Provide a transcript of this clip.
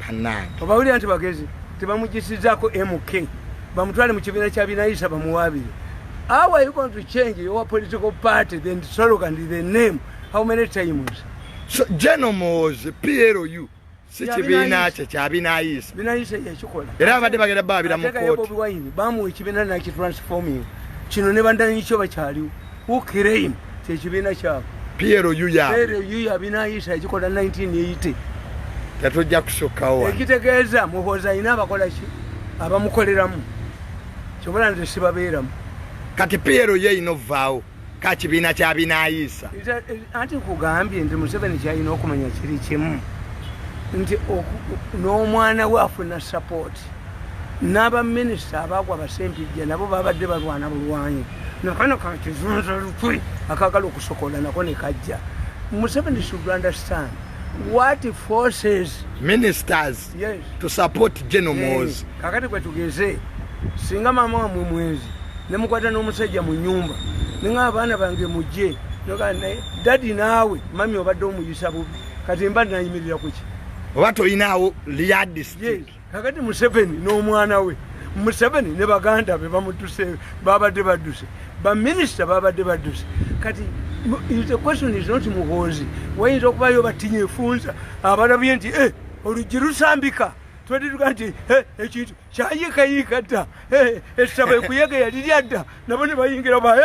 banange obawulira nti bagezi tebamujisizako mk bamutwale mu kibiina kya binayisa bamuwabire how are you going to change your political party then slogan the name how many times so general mozi plu si kibiina kye kya binayisa binayisa yakikola era abadde bagenda babira mu kooti bamuwa ekibiina nakitransforming kino ne bandanyikyo bakyaliwo who claim kyekibiina kyabwe PLU ya PLU ya binayisa ekikola 1980 tatujja kusukawo ekitegeeza muhoozi alina abakola ki abamukoleramu kyobola nze sibabeeramu kati PLU ye ino vaawo ka kibiina kya binayisa anti nkugambye nti museveni kyalina okumanya kiri kimu nti n'omwana we afuna sapooti n'abaminisita abaagwa basempijja nabo babadde balwana bulwanyi nakano kakizunza lukwe akagala okusokola nako ne kajja museveni should understand what forces ministers yes. to support genomos eh, kakati kwe tugeze singa maama wamwe mwenzi nemukwata n'omusajja mu nyumba ninga abaana bange mujje dadi naawe mami obadde omuyisa bubi kati mba nayimirira kuki oba toyinaawo lyadistik yes. kakati museveni n'omwana we museveni ne baganda be bamutuse babadde badduse baminisita babadde badduse kati the question is not muhoozi wayinza okubayo batinya efunza abalabye nti eh, oluggi lusambika twedituga nti eh, ekintu kyayikayiika dda eh, essaba ekuyega yali lyadda nabo ne bayingira baye